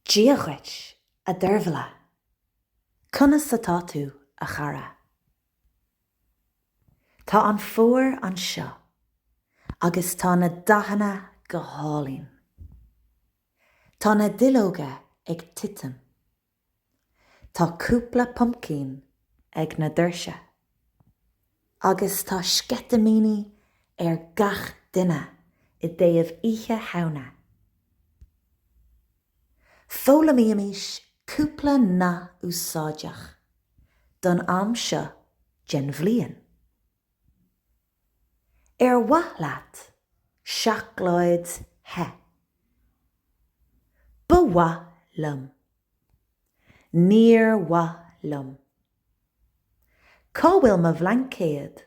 Dia dhuit, a Deirbhile. Conas atá tú, a chara? Tá an fómhar anseo agus tá na dathanna go hálainn. Tá na duilleoga ag titim. Tá cúpla pumpkin ag na doirse. Agus tá sceitimíní ar gach duine i dtaobh Oíche Shamhna. Foghlaimímís cúpla nath úsáideach don am seo den bhliain. Ar mhaith leat seacláid the? Ba mhaith liom. Níor mhaith liom. Cá bhfuil mo bhlaincéad?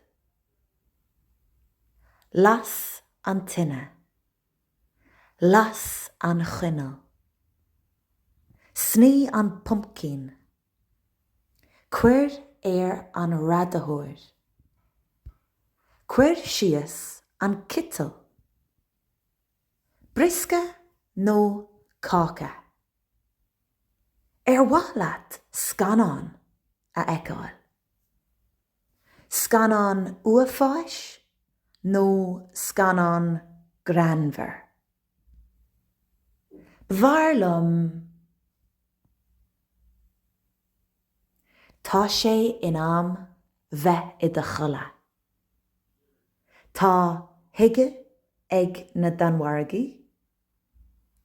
Las an tine. Las an choinneal. Snoí an pumpkin. Cuir ar an radaitheoir. Cuir síos an citeal. Briosca nó cáca? Ar mhaith leat scannán a fheiceáil? Scannán uafáis nó scannán greannmhar? B'fhearr liom. Tá sé in am bheith i do chodladh. Tá hygge ag na Danmhargaigh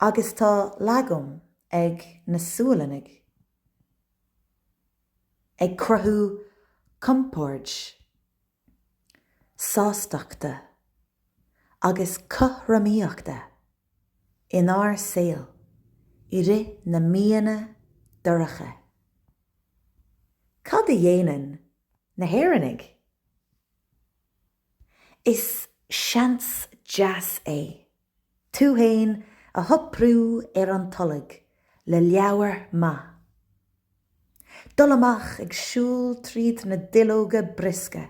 agus tá lagom ag na Sualannaigh ag cruthú compoird. sástachta agus cothromaíochta inár saol i rith na míonna dorcha. Cad a dhéanann na hÉireannaigh? Is seans deas é Tú fhéin a shoipriú ar an tolg le leabhar maith. Dul amach ag siúl tríd na duilleoga briosca.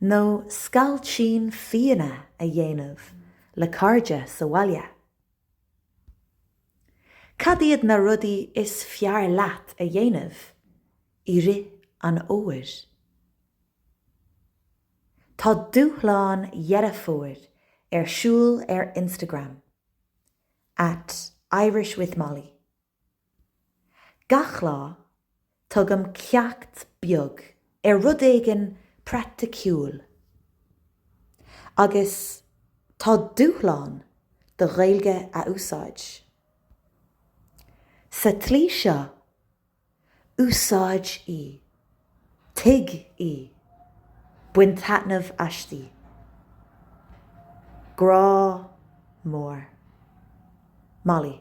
Nó scailtín fíona a dhéanamh le cairde sa bhaile. Cad iad na rudaí is fearr leat a dhéanamh i rith an fhómhair? Tá dúshlán Dheireadh Fómhair ar siúl ar Instagram, at irishwithmolly. Gach lá, tugaim ceacht beag ar rud éigin praiticiúil. Agus tá dúshlán do Ghaeilge a úsáid. Sa tslí seo, Úsáid í. Tuig í. Bain taitneamh aisti. Grá mór. Molly.